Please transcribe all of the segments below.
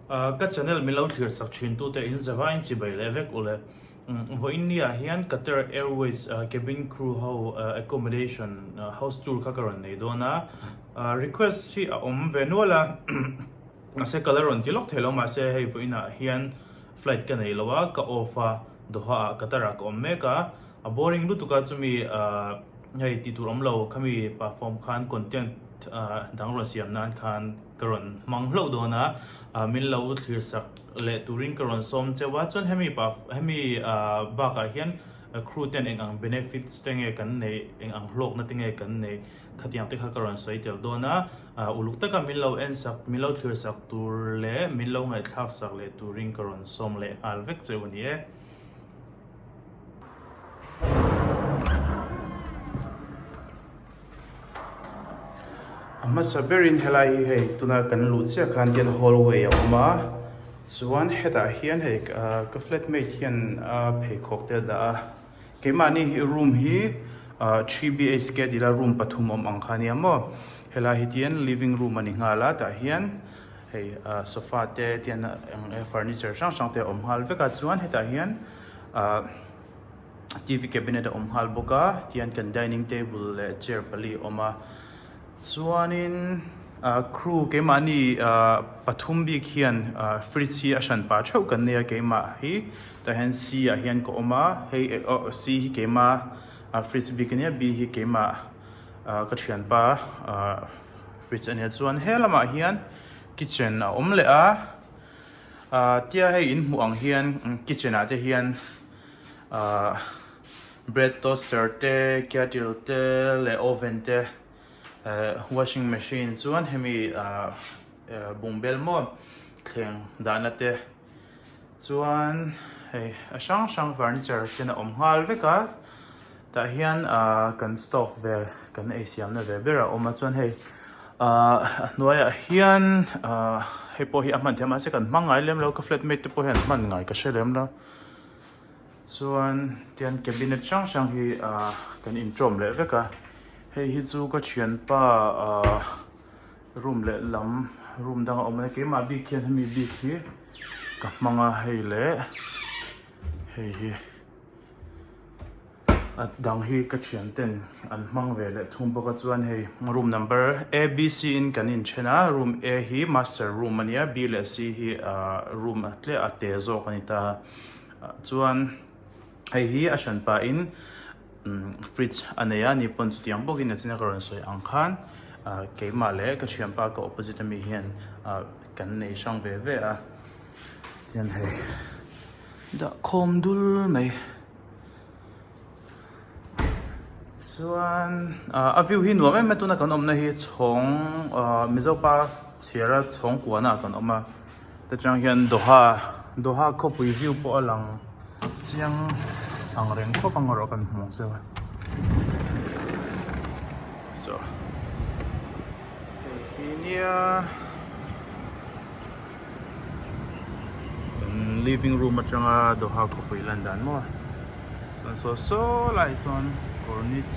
Ka channel min lo thlir sak thin tu te in zava in chibai leh vek u le. Vaw India ah hian Qatar Airways cabin crew ho accommodation house tour kha ka rawn nei dawn a. Request hi a awm ve nual a mahse ka la rawn ti lawk thei lo mahse hei vaw India ah hian flight ka nei lo a ka off a Doha ah Qatar ah ka awm mek a. A boring lutuk a chumi hei tih tur awm lo khami perform khan content dang rawn siam nan khan ka rawn hmang hlauh dawn a min lo thlir sak leh turin ka rawn sawm cheu a chuan hemi hemi bak ah hian crew ten eng ang benefits te nge kan nei eng ang hlawk na te nge kan nei khatiang te kha ka rawn sawi tel dawn a uluk tak a min lo en sak min lo thlir sak tur leh min lo ngaihthlak sak leh turin ka rawn sawm leh nghal vek cheu a ni e. A hmasa berin helai hi hei tuna kan luh chiah khan hian hallway a awm a chuan hetah hian hei ahh ka flatmate hian ahh pheikhawk te a dah a keimahni hi room hi ahh three B H K a tih la room pathum awm ang kha nia maw helai hi tian living room a ni nghal a tah hian hei ahh sofa te tian ah eng eng furniture hrang hrang te a awm nghal vek a chuan hetah hian-- Ahh TV cabinet a awm nghal bawk a, tihian kan dining table leh chair pali awm a, chuanin ahh crew keimahni ahh pathum bik hian ahh fridge hi a hran pah theuh kan nei a, keimah hi tah hian C ah hian ka awm a, hei eh ohh C hi keima ahh fridge bik a nia, B hi keimah ahh ka thian pa ahh fridge a nia chuan he lamah hian kitchen a awm leh a. Ahh tia hei in hmuh ang hian kitchen ah te hian ahh bread toaster te kettle te leh oven te ehh washing machine chuan hemi ahh bung bel maw thleng dahna te chuan hei a hrang hrang furniture ten a awm nghal vek a. Tah hian kan stove vel kan ei siamna ve ber a awm a, chuan hei a hnuaiah hian hei pawh hi a hman theih a, mahse kan hmang ngai lem lo, ka flat mate te pawh hian an hman ngai ka hre lem lo. Chuan tihian cabinet hrang hrang hi kan intawm leh vek a, hei hi chu ka thianpa room leh lam room dang a awm a ni, keimah bik hian hemi bik hi ka hmang a, hei leh hei hi. a dang hi ka thian ten an hmang ve leh thung bawk a chuan hei room number a b c in kan in then a room a hi master room ania b leh c hi ah room tleh a te zawk a ni ta chuan hei hi a thian pah in umm fridge a nei a ni pawn chutiang bawk in a chhung ah ka rawn sawi ang khan ah keimah leh ka thian pa ka opposite ami hian ah kan nei hrang ve ve a. Chuan hei dah khawm dul mai. Chuan ah a view hi nuam em a tuna kan awmna hi chhawng ah Mizo pa chhiara chhawng kuahna ah kan awm a ta chang hian Doha Doha khawpui view pawh a lang chiang ang reng khawp ang erawh kan hmu che. Hei hi nia. living room atanga doha khawpui lan dan maw chuan saw saw laiah sawn kawr nit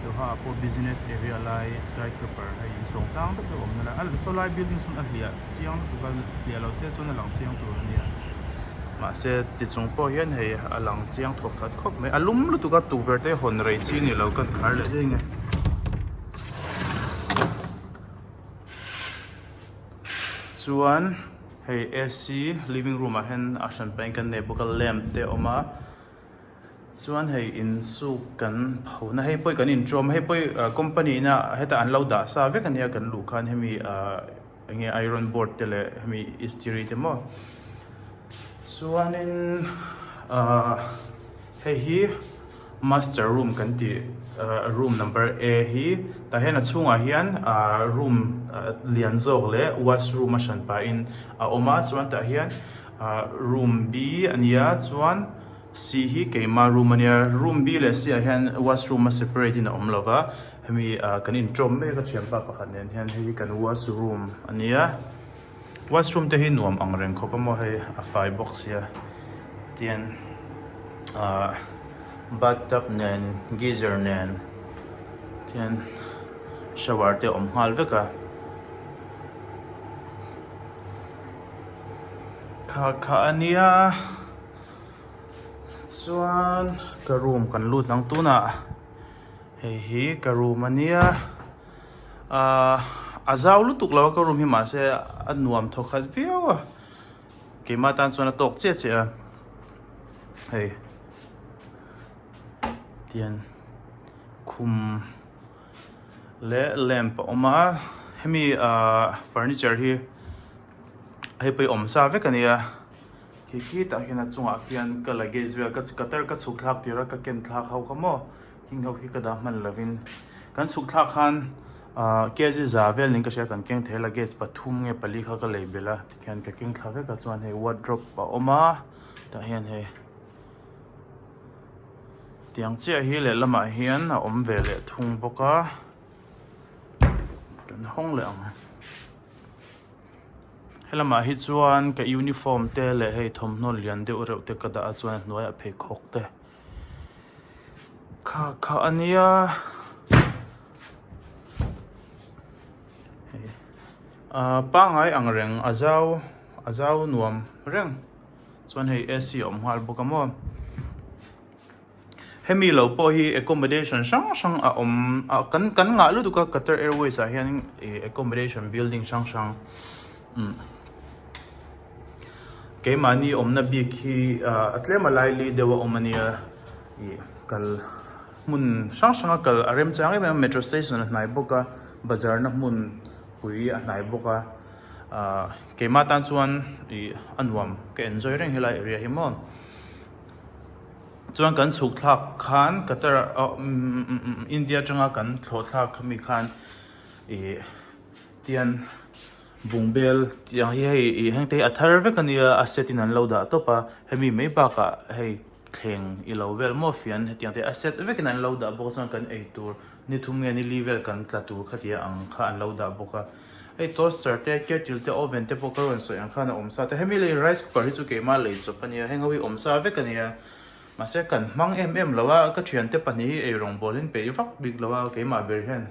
doha ah pawh business area lai sky craper hei in chhawng sang deuh deuh awmna lai a saw lai building sawn a hliah chiang lutuk a a hliah loh se chuan a lang chiang tur a nia mahse ti chung pawh hian hei a lang chiang thawk that khawp mai a lum lutuk a tukverh te hawn rei chi a nih loh kan khar leh daih nge. Chuan hei AC living room ah hian a hran pahin kan nei bawk a lamp te a awm a chuan hei insuk kan pho na hei pawh kan in tawm a hei pawh hi company ina heta an lo dah sa vek a nia kan luh khan hemi ahh enge iron board te leh hemi istiri te maw chuanin ahh hei hi-- Master room kan ti room number A hi tah hian a chhungah hian room lian zawk leh wash room a hran pahin a awm a chuan tah hian room B a nia chuan C hi keima room a nia room B leh C ah hian wash room a separate in a awm lova hemi kan inṭawm mek a ṭhianpa pakhat nen hian hei hi kan wash room a nia. Washroom te hi nuam ang reng khawp a maw hei a fai bawk sia tian ahh bath tub nen geyser nen tian shower te awm nghal vek a khar kha a nia chuan ka room kan lut nang tunah hei hi ka room a nia. Aah a zau lutuk lo a ka room hi mahse a nuam thaw khat viau a, keimah tan chuan a tawk che che a, hei tian khum leh lamp a awm a, hemi aah furniture hi hei pawh hi awm sa vek a nia, khi khitah hian a chungah khian ka luggage vel ka ka tar ka chhuk thlak tirh a ka ken thlak ho kha maw. Hing ho khi ka dah hman lovin kan sukthlak khan KZ za vel ning ka hria kan keng thei la gate pathum nge pali kha ka lei bela tikhian ka keng thla veka chuan hei wardrobe a awma tah hian hei tiang chiah hi leh lamah hian a awm ve leh thung bawk a kan hawng leh ang helamah hi chuan ka uniform te leh hei thawmhnaw lian deuh reuh te ka dah a chuan a hnuaiah pheikhawk te. kha kha a nia ahh pangai ang reng a zau a zau nuam reng chuan hei a c a awm nghal bawk a maw hemi lo pawh hi accommodation hrang hrang a awm a kan kan ngah lutuk a Qatar Airways ah hian accommodation building hrang hrang umm. Keimahni awmna bik hi a tlem a laili deuh a awm a nia. Ih kal hmun hrang hranga kal a rem chang em em a, metro station a hnai bawk a, bazarna hmun pui a hnai bawk a. Ahh keimah tan chuan ih a nuam ka enjoy reng helai area hi maw. Chuan kan chhuk thlak khan Qatar ah umm India atanga kan thlawhthlak ami khan ih tian. Bung bel tih ang hi hei ih hengte hi a thar vek a nia a set in an lo dah tawp a, hemi mai bakah hei thleng i lo vel maw fian hetiang te a set vek in an lo dah bawk chuan kan ei tur ni thum nge ni li vel kan tla tur kha tia ang kha an lo dah bawk a, hei toaster te kettle te oven te pawh ka rawn sawi ang khan a awm sa ta hemi lei rice cooker hi chu keimah lei chawp a nia heng ho hi awm sa vek a nia mahse kan hmang em em lo a ka thiante pahnih hi ei rawngbawlin peih vak bik lo a keimah ber hian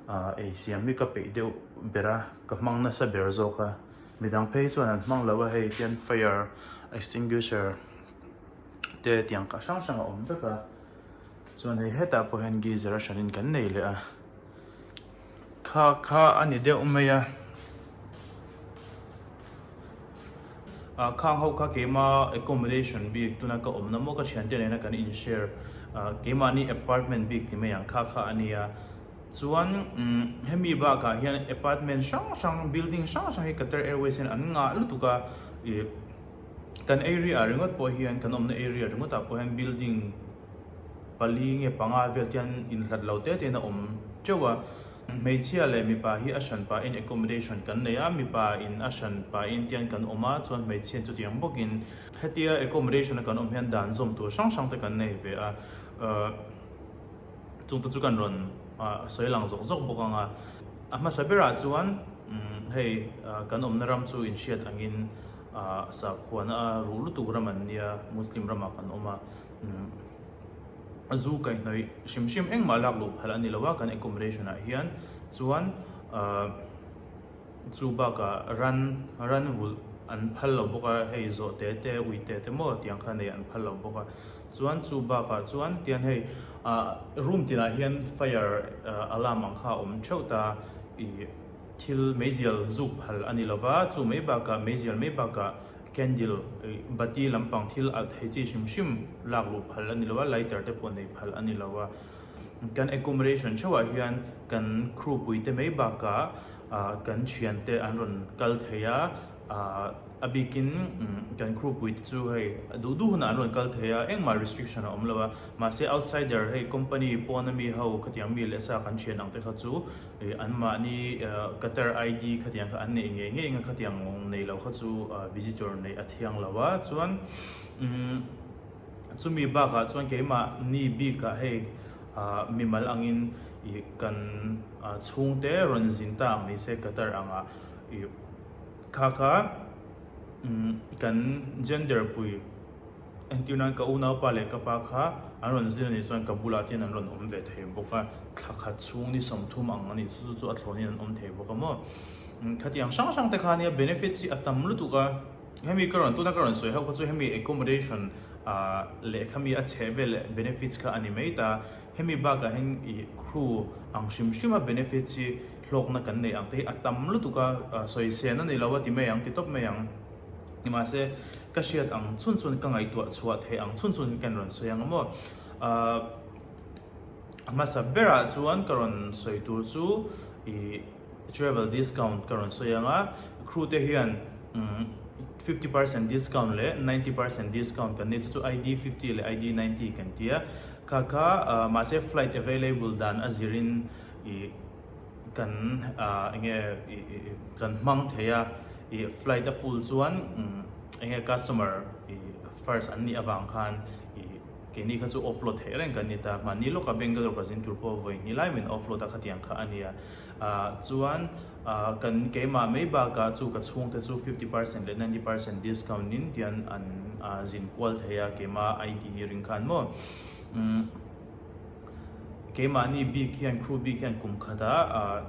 ah ei siam hi ka peih deuh ber a, ka hmang nasa ber zawk a, midang phei chuan an hmang lo a, hei hian fire extinguisher te tiang kah hrang hrang a awm vek a, chuan hei hetah pawh hian geyser a hran in kan nei leh a, kha kha a ni deuh mai a. Ah khang ho kha keima accommodation bik tuna ka awmna maw ka thiante nena kan in share ah keimahni apartment bik ti mai ang kha kha a nia chuan umm hemi bakah hian apartment hrang hrang building hrang hrang hi Qatar Airways in an ngah lutuk a ih kan area ah ringawt pawh hian kan awmna area ringawt ah pawh hian building pali nge panga vel te hian in hlat lo te te in a awm teuh a. Hmeichhia leh mipa hi a hran pahin accommodation kan nei a, mipa in a hran pahin tian kan awm a, chuan hmeichhian chutiang bawkin. Hetia accommodation-a kan awm hian dan zawm tur hrang hrangte kan nei ve a, chungte chu kan rawn sawi lang zawk zawk bawk anga. A hmasa berah chuan hei kan awmna ram chu inhriat angin sakhuana a ruh lutuk ram an nia, Muslim ramah kan awm a. zu kaihhnawih hrim hrim engmah lak luh phalh a ni lo a, kan accommodation ah hian chuan chu bakah ran ran vulh an phal lo bawk a, hei zawhte te uite te maw tiang kha nei an phal lo bawk a, chuan chu bakah chuan tian hei room tinah hian fire alarm ang kha a awm theuh ta a, ih thil meizial zuk phal a ni lo va, chu mai bakah meizial mai bakah Candle, bati lampang thil alh thei chi hrim hrim lak luh phal a ni lo a, lighter te pawh nei phal a ni lo a. Kan accommodation theuhah hian kan crew puite mai bakah kan thiante an rawn kal thei a, a bikin kan crew puite chu hei a duh duh hunah an rawn kal thei a, engmah restriction a awm lo a, mahse outsider hei company pawn ami ho khatiang mi leh sa kan thian ang te kha chu E, anmahni Qatar ID khatiang kha an neih ngei ngei nga khatiang nei lo kha chu visitor neih a thiang lo a, chuan chumi bakah chuan keimahni bikah hei mimal angin kan chhungte rawn zin ta ang ni se Qatar anga khakha kan gender pui. Entir nan ka unaupa leh ka pa kha an rawn zir ni chuan ka bulah chian an rawn awm ve thei bawk a, thla khat chhung ni sawm thum ang a nih chu chu chu a thlawhni an awm thei bawk a maw. Khatiang hrang hrang te khan hian benefits hi a tam lutuk a, hemi ka rawn tuna ka rawn sawi ho kha chu hemi accommodation ah leh khami a chheh vel benefits kha a ni mai ta, hemi bakah hian i crew ang hrim hrima benefits hi hlawkna kan neih ang te hi a tam lutuk a, sawi sehna nei lo a ti mai ang, ti tawp mai ang. Nimahse ka hriat ang chhun chuan ka ngaihtuah chhuah theih ang chhun chuan ka rawn sawi anga maw ahh hmasa berah chuan ka rawn sawi tur chu ih travel discount ka rawn sawi anga crew te hian fifty percent discount leh ninety percent discount kan nei chu chu ID fifty leh ID ninety kan ti a kha kha mahse flight available dan a zir in ih. Kan ah enge kan hmang thei a, i flight a full chuan enge customer i first an nih avang khan i keini kha chu offload theih reng kan ni ta, mahni lawka Bangalore ka zing tur pawh vawi ni lai min offload a khatiang kha a nia, ah chuan ah kan keimah mai bakah chu ka chhung te chu fifty percent leh ninety percent discount nin tian an zin kual thei a keima ID ring khan maw umm. Keimahni bik hian kru bik hian kum khata ahh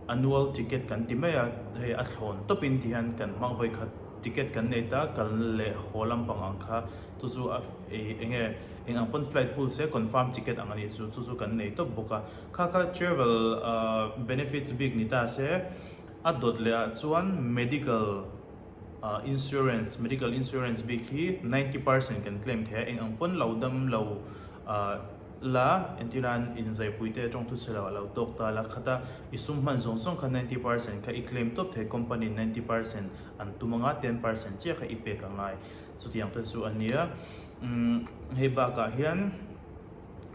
a nual ticket kan ti mai a, hei a thlawn tawpin tih hian kan hmang vawi khat ticket kan nei ta kal leh haw lampang ang kha chu chu a ehh eng nge eng ang pawn flight full se confirm ticket ang a nih chu chu chu kan nei tawp bawk a kha kha travel ahh benefits bik ni ta se a dawt leh ah chuan medical. Insurance, medical insurance bik hi ninety percent kan claim thei a, eng ang pawn lo dam lo la, engtin a inzaipui te tawng thuchhe lo alo tawk ta la khat a, i sum hman zawng zawng kha ninety percent kha i claim tawp thei company in ninety percent an tum anga ten percent chiah kha i pek a ngai, chutiang te chu a nia. Umm hei bakah hian.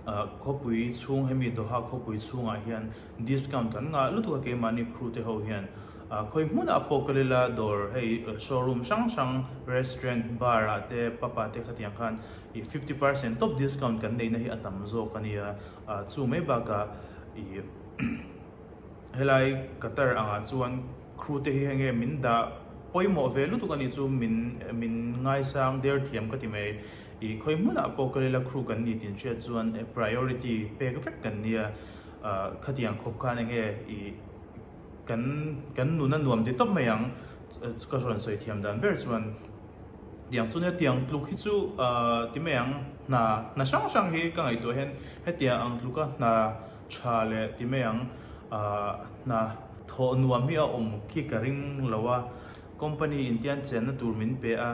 Khawpui chhung hemi Doha khawpui chhungah hian discount kan ngah lutuk a keimahni Khrute ho hian khawi hmuna apokalila dawr hei showroom hrang hrang restaurant bar ah te pub ah te khatiang khan i fifty percent top discount kan neihna hi a tam zawk a nia chu mai bakah i Helai Qatar angah chuan Khrute hi henge min dah pawimawh ve lutuk a nih chu min min ngaisang der thiam ka ti mai. I khawi hmunah pawh ka lila Khrute kan ni tin hriat chuan priority pek vek kan nia. Khatiang khawp khan enge i kan kan nun a nuam ditawp mai ang ka rawn sawi thiam dan ber chuan tiang chuan hetiang tluk hi chu ti mai ang hna hna hrang hrang hi ka ngaihtuah hian hetiang ang tluka hna Tha leh ti mai ang ah hna thawh nuam hi a awm khi ka ring lo a, company in tian chenna tur min pe a,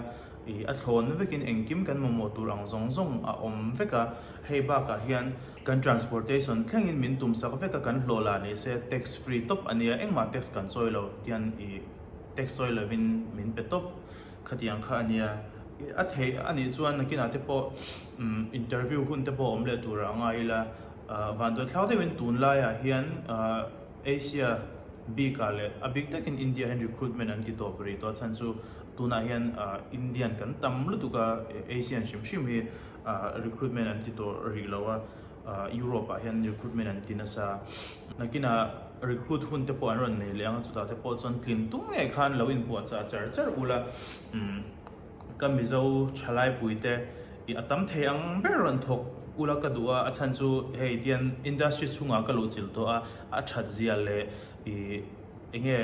ih a thlawn vekin engkim kan mamawh tur ang zawng zawng a awm vek a, hei bakah hian kan transportation thlengin min tum sak vek a, kan hlawh la ni se tax free tawp a nia, engmah tax kan sawi lo tian ih tax sawi lovin min pe tawp khati ang kha a nia, a theih a nih chuan nakinah te pawh umm interview hun te pawh awm leh tur ang a ila. Vantuaithlau deuhin tun laiah hian Asia bikah leh a bik takin Indiahin recruitment an ti tawp rih tawh a chhan chu tunah hian Indian kan tam lutuk a, Asian hrim hrim hi recruitment an ti tawh rih lo a, Europe ah hian recruitment an ti nasa a. Nakinah recruit hun te pawh an rawn nei leh ang a, chutah te pawh chuan tlin tum ngei khan lo inpuahchah char char ula. Ka mizo thalaipuii te i a tam thei ang ber an thawk ula ka duh a, a chhan chu hei tian industry chhungah ka lo chilh tawh a, a that zia leh i enge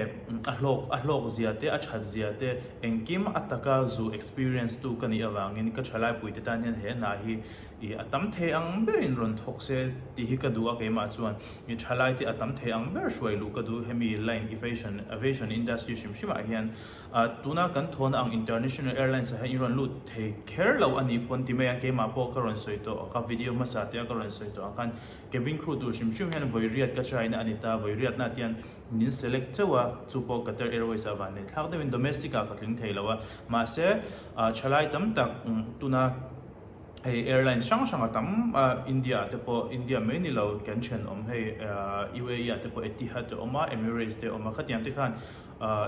a hlawk a hlawk zia te a that zia te engkim a taka zu experience tu ka nih avangin ka thalaipuii te tan hian he hna hi i a tam thei ang berin rawn thawk se tih hi ka duh a keimah chuan i thalai te a tam thei ang ber hruai luh ka duh hemi line evasion aviation industry hrim hrimah hian Tuna kan thawn ang International Airlines-a hian i rawn lut thei kher lo a ni pawn ti mai a, keimah pawh ka rawn sawi tawh a, ka video hmasa te a ka rawn sawi tawh ang khan cabin crew tur hrim hrim hian vawiriat ka try na a ni ta, vawiriatna te hian min select chauh a, chu pawh Qatar Airways-a van nei thlak deuhin domestic-a ka tling thei lo a, mahse thalai tam tak tuna hei airlines hrang hranga tam a India-ah te pawh, India mai ni lo kan thenawm hei UAE-ah te pawh Etihad a awm a, Emirates te a awm a, khatiang te khan.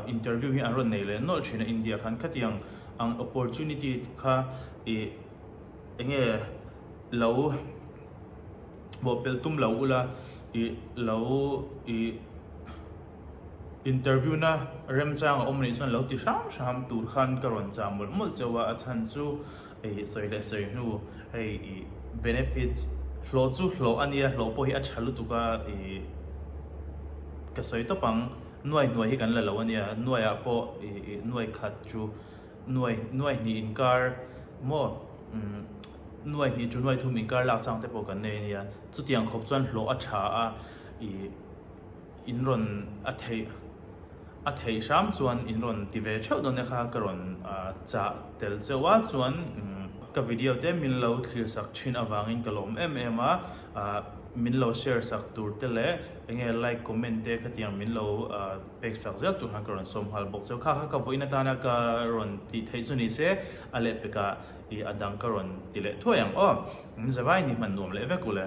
Interview hi an rawn nei leh nawlh thin a, India khan khatiang ang opportunity kha i enge lo bawhpel tum lo ula i lo i interview na remchang a awm anih chuan lo ti hram hram tur khan ka rawn chah mawlh mawlh chauh a, a chhan chu i sawi leh sawi hnu hei i benefits hlawh chu hlawh ania hlawh pawh hi a tha lutuk a i ka sawi tawp ang. Nuai hnuai hi kan la lo a nia, nuai ah pawh nuai khat chu nuai nuai hnih inkar maw nuai hnih chu nuai thum inkar lak chang te pawh kan nei a nia. Chutiang khawp chuan hlawh a tha a, in rawn a theih a theih hram chuan in rawn ti ve theuh dawn e kha ka rawn chah tel cheu a chuan ka video te min lo thlir sak thin avangin ka lawm em em a. Ahh min lo share sak tur te leh eng nge like comment te kha tiang min lo ahh pek sak zel tur khan ka rawn sawm nghal bawk. Cheu kha kha ka vawiin atana ka rawn tih theih chu ni se a leh pek ah ih a dang ka rawn ti leh thuai ang aw. Zawai ni hman nuam leh vek u le.